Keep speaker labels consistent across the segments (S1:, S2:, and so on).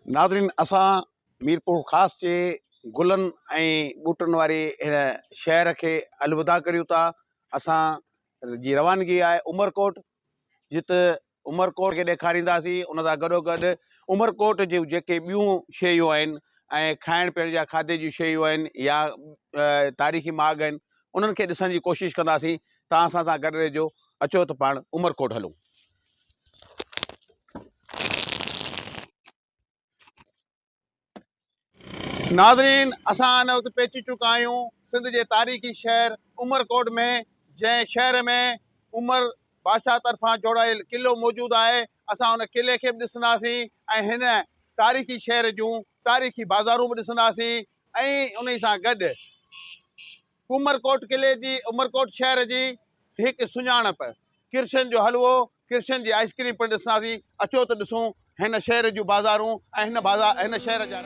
S1: ناظرين اسان ميرپورخاص جي گلن ۽ ٻوٽن واري هن شهر کي الوداع ڪريون ٿا اسان جي روانگي آهي عمرڪوٽ جت عمرڪوٽ کي ڏيکارينداسين ان سان گڏو گڏ عمرڪوٽ جون جيڪي ٻيون شيون آهن ۽ کائڻ پيئڻ جا کاڌي جون شيون آهن يا تاريخي ماڳ آهن انهن کي ڏسڻ جي ڪوشش ڪنداسين ته اسان سان گڏ رهجو اچو ته پاڻ عمرڪوٽ هلون. ناظرين اسان هن وقت پهچي چڪا آهيون سنڌ جي تاريخي شهر عمرڪوٽ ۾ جنهن شهر ۾ عمر بادشاهه طرفان جوڙايل قلعو موجود آهي اسان ان قلعي کي به ڏسنداسين ۽ هن تاريخي شهر جون تاريخي بازارون به ڏسنداسين ۽ انهي سان گڏ عمرڪوٽ قلعي جي عمرڪوٽ شهر جي هڪ سڃاڻپ ڪرشن جو حلوو ڪرشن جي آئسڪريم پڻ ڏسنداسين اچو ته ڏسون هن شهر جون بازارون ۽ هن شهر جا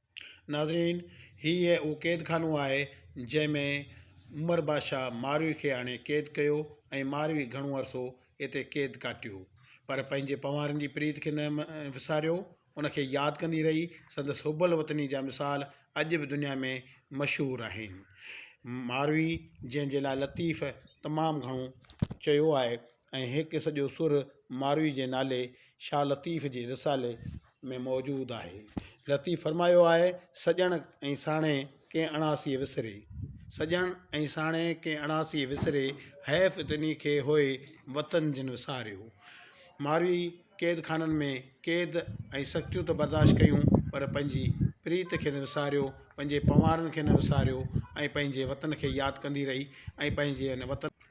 S1: ناظرين!
S2: هي ئي اهو قيد خانو آهي، جنهن ۾ عمر بادشاهه ماروي کي آڻي قيد ڪيو ۽ ماروي گهڻو عرصو اتي قيد ڪاٽيو، پر پنهنجي پنوارن جي پريت کي نه وساريو، ان کي ياد ڪندي رهي، سندس حب الوطني جا مثال اڄ به دنيا ۾ مشهور آهن. ماروي جنهن جي لاء لطيف تمام گهڻو چيو آهي ۽ هڪ سڄو سر ماروي جي نالي شاهه لطيف جي رسالي ۾ موجود آهي لطيف فرمايو آهي سڄڻ ۽ ساڻي ڪنهن اڻاسي وسري سڄڻ ۽ ساڻي ڪنهن اڻاسي وسري حيف تنهن کي هوئي وطن جن وساريو ماروي قيد خانن ۾ قيد ۽ سختيون ته برداشت ڪيون پر پنهنجي پريت کي نه وساريو پنهنجي پنوارن کي نه وساريو ۽ پنهنجي وطن کي ياد ڪندي رهي ۽ پنهنجي ان وطن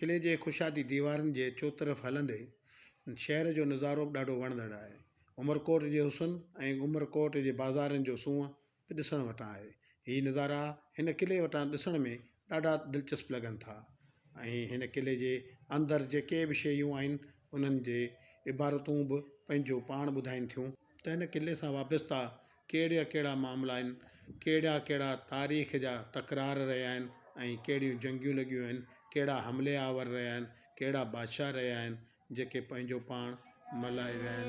S2: قلعي جي ڪشادي ديوارن جي چوطرف هلندي شهر جو نظارو به ڏاڍو وڻندڙ آهي. عمرڪوٽ جي حسن ۽ عمرڪوٽ جي بازارن جو سونهن به ڏسڻ وٽان آهي. هي نظارا هن قلعي وٽان ڏسڻ ۾ ڏاڍا دلچسپ لڳن ٿا ۽ هن قلعي جي اندر جيڪي به شيون آهن انهن جي عبارتون به پنهنجو پاڻ ٻڌائين ٿيون. ته هن قلعي سان وابسته ڪهڙا ڪهڙا معاملا آهن، ڪهڙا ڪهڙا تاريخ جا تڪرار رهيا آهن ۽ ڪهڙيون جنگيون لڳيون آهن، ڪهڙا حملي آور رهيا آهن، ڪهڙا بادشاهه رهيا آهن، جيڪي پنهنجو پاڻ ملهائي ويا آهن.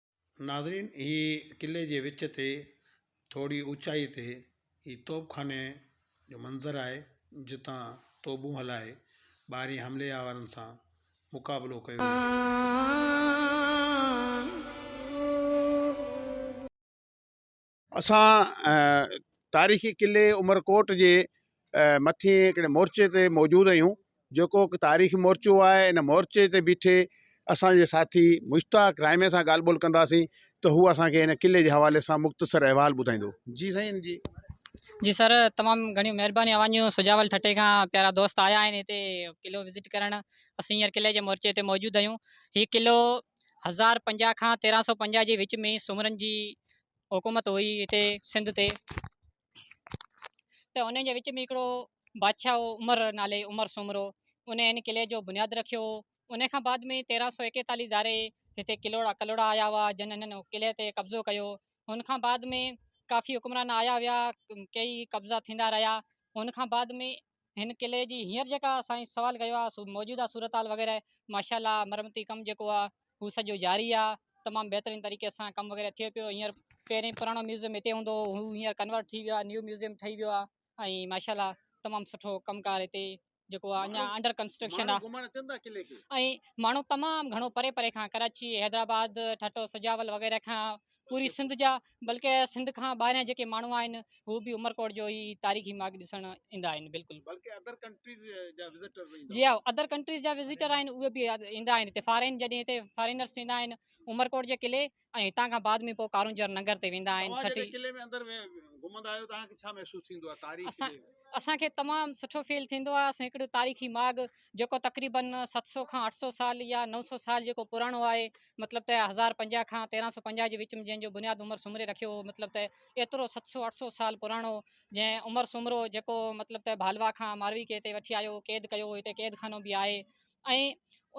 S2: ناظرين هي قلعي جي وچ تي ٿوري اوچائي تي هي توب خاني جو منظر آهي جتان توبون هلائي ٻاهرين حملي آورن سان مقابلو ڪيو ويو آهي.
S1: اسان تاريخي قلعي عمرڪوٽ جي مٿي هڪڙي مورچي تي موجود آهيون جيڪو هڪ تاريخي مورچو آهي ان مورچي تي بيٺي اسانجي ساٿي مشتاق رحمي سان ڳالهه ٻولهه ڪنداسين ته هو اسانکي هن قلعي جي حوالي سان مختصر احوال ٻڌائيندو جي سائين جي جي سر
S3: تمام گهڻيون مهربانيون اوهان جون سجاول ٺٽي کان پيارا دوست آيا آهن هتي قلعو وزٽ ڪرڻ اسين هينئر قلعي جي مورچي تي موجود آهيون هي قلعو هزار پنجاهه کان تيرهن سؤ پنجاهه جي وچ ۾ سومرن جي حڪومت هئي هتي سنڌ تي ته انهن جي وچ ۾ هڪڙو بادشاهه هو عمر نالي عمر سومرو ان هن قلعي جو بنياد رکيو هو ان کان بعد ۾ تيرهن سؤ ايڪيتاليس ڌاري هتي ڪلوڙا ڪلوڙا آيا هئا جن هنن قلعي تي قبضو ڪيو هن کان بعد ۾ ڪافي حڪمران آيا ويا ڪيئي قبضا ٿيندا رهيا هن کان بعد ۾ هن قلعي جي هينئر جيڪا سائين سوال ڪيو آهي سو موجوده صورتحال وغيره ماشاء الله مرمتي ڪم جيڪو آهي هو سڄو جاري آهي تمام بهترين طريقي سان ڪم وغيره ٿئي پيو هينئر پهرين پراڻو ميوزيم هتي هوندو هو هو هينئر ڪنورٽ ٿي ويو آهي نيو ميوزيم ٺهي ويو آهي ۽ ماشاء الله تمام سٺو ڪم ڪار هتي جيڪو آهي اڃا انڊر ڪنسٽرڪشن آهي ۽ ماڻهو تمام گهڻو پري پري کان ڪراچي حيدرآباد ٺٽو سجاول وغيره کان پوري سنڌ جا بلڪه سنڌ کان ٻاهريان جيڪي ماڻهو آهن هو به عمرڪوٽ جو هي تاريخي ماڳ ڏسڻ ايندا آهن بلڪل بلڪه ادر ڪنٽريز جا وزٽر به جي ها ادر ڪنٽريز جا وزٽر آهن اهي به ايندا آهن هتي فارين جڏهن هتي فارينرس ايندا آهن عمرڪوٽ جي قلعي ۽ هتان کان بعد ۾ پوء ڪارونجهر ننگر تي ويندا آهن ڇٽي قلعي ۾ اندر گهمندا آهيو تان کي ڇا محسوس ٿيندو آهي تاريخ اسان اسان کي تمام سٺو فيل ٿيندو آهي اسان هڪڙو تاريخي ماڳ جيڪو تقريبن 700 کان 800 سال يا 900 سال جيڪو پراڻو آهي مطلب ته هزار پنجاهه کان تيرهن سؤ پنجاهه جي وچ ۾ جنهن جو بنياد عمر سومري رکيو هو مطلب ته ايترو ست سؤ اٺ سؤ سال پراڻو جنهن عمر سومرو جيڪو مطلب ته ڀالوا کان ماروي کي هتي وٺي آيو قيد ڪيو هتي قيد خانو به آهي ۽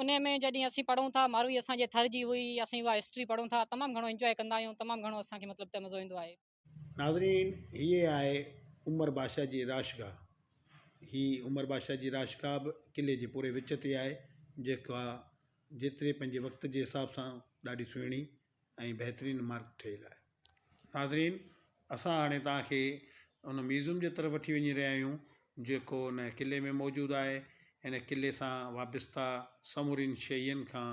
S3: ان ۾ جڏهن اسين پڙهون ٿا ماروي اسان جي ٿر جي هئي اسين اها هسٽري پڙهون ٿا تمام گهڻو انجوائي ڪندا آهيون تمام گهڻو اسان کي مطلب ته مزو ايندو آهي ناظرين
S2: هيء آهي عمر بادشاهه جي راشگاهه. هي عمر بادشاهه جي راشگاهه به قلعي جي پوري وچ تي آهي، جيڪا جيتري پنهنجي وقت جي حساب سان ڏاڍي سهڻي ۽ بهترين عمارت ٺهيل آهي. ناظرين اسان هاڻي توهان کي ان ميوزم جي طرف وٺي وڃي رهيا آهيون جيڪو ان قلعي ۾ موجود آهي. هن قلعي سان وابسته سمورين شين کان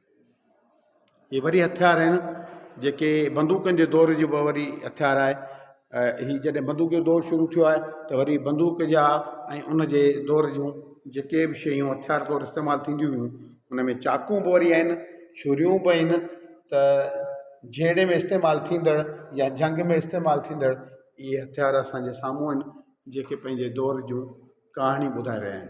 S2: ھي وري ھٿيار آھن جيڪي بندوقن جي دور جي بھ وري ھٿيار آھي ھي جڏھن بندوق جو دور شروع ٿيو آھي تھ وري بندوق جا ۽ ان جي دور جون جيڪي بھ شيون ھٿيار طور استعمال ٿينديون ھيون ان ۾ چاقو بھ وري آھن چھريون بھ آھن تھ جھيڙي ۾ استعمال ٿيندڙ يا جنگ ۾ استعمال ٿيندڙ اھي ھٿيار اسانجي سامھون آھن جيڪي پنھنجي دور جون ڪھاڻيون ٻڌائي رھيا آھن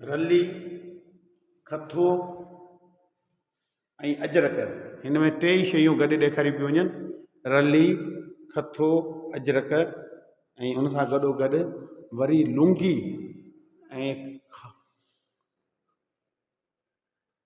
S4: رلي،
S2: کٿو ۽ اجرڪ هن ۾ ٽي ئي شيون گڏ ڏيکاريون پيون وڃن رلي، کٿو، اجرڪ ۽ ان سان گڏو گڏ وري لونگي ۽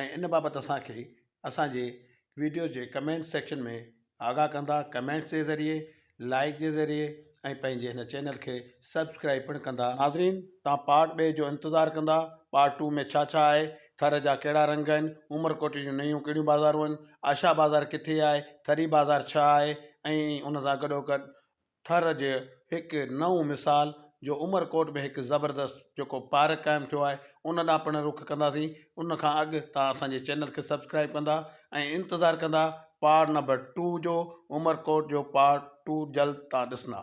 S2: ۽ ان بابت اسان کي اسان جي ويڊيو جي ڪمينٽ سيڪشن ۾ آگاهه ڪندا ڪمينٽس جي ذريعي لائيڪ جي ذريعي ۽ پنهنجي هن چينل کي سبسڪرائيب پڻ ڪندا ناظرين توهان پارٽ ٻئي جو انتظار ڪندا پارٽ ٽو ۾ ڇا ڇا آهي ٿر جا ڪهڙا رنگ آهن عمرڪوٽ جون نيون ڪهڙيون بازارون آهن آشا بازار ڪٿي آهي ٿري بازار ڇا آهي ۽ ان سان گڏو گڏ ٿر جي هڪ نئون مثال جو عمر ڪوٽ ۾ هڪ زبردست جيڪو پارڪ قائم ٿيو آهي ان ڏانهن پڻ رخ ڪنداسين ان کان اڳ توهان اسان جي چينل کي سبسڪرائيب ڪندا ۽ انتظار ڪندا پارٽ نمبر ٽو جو عمر ڪوٽ جو پارٽ ٽو جلد توهان ڏسندا.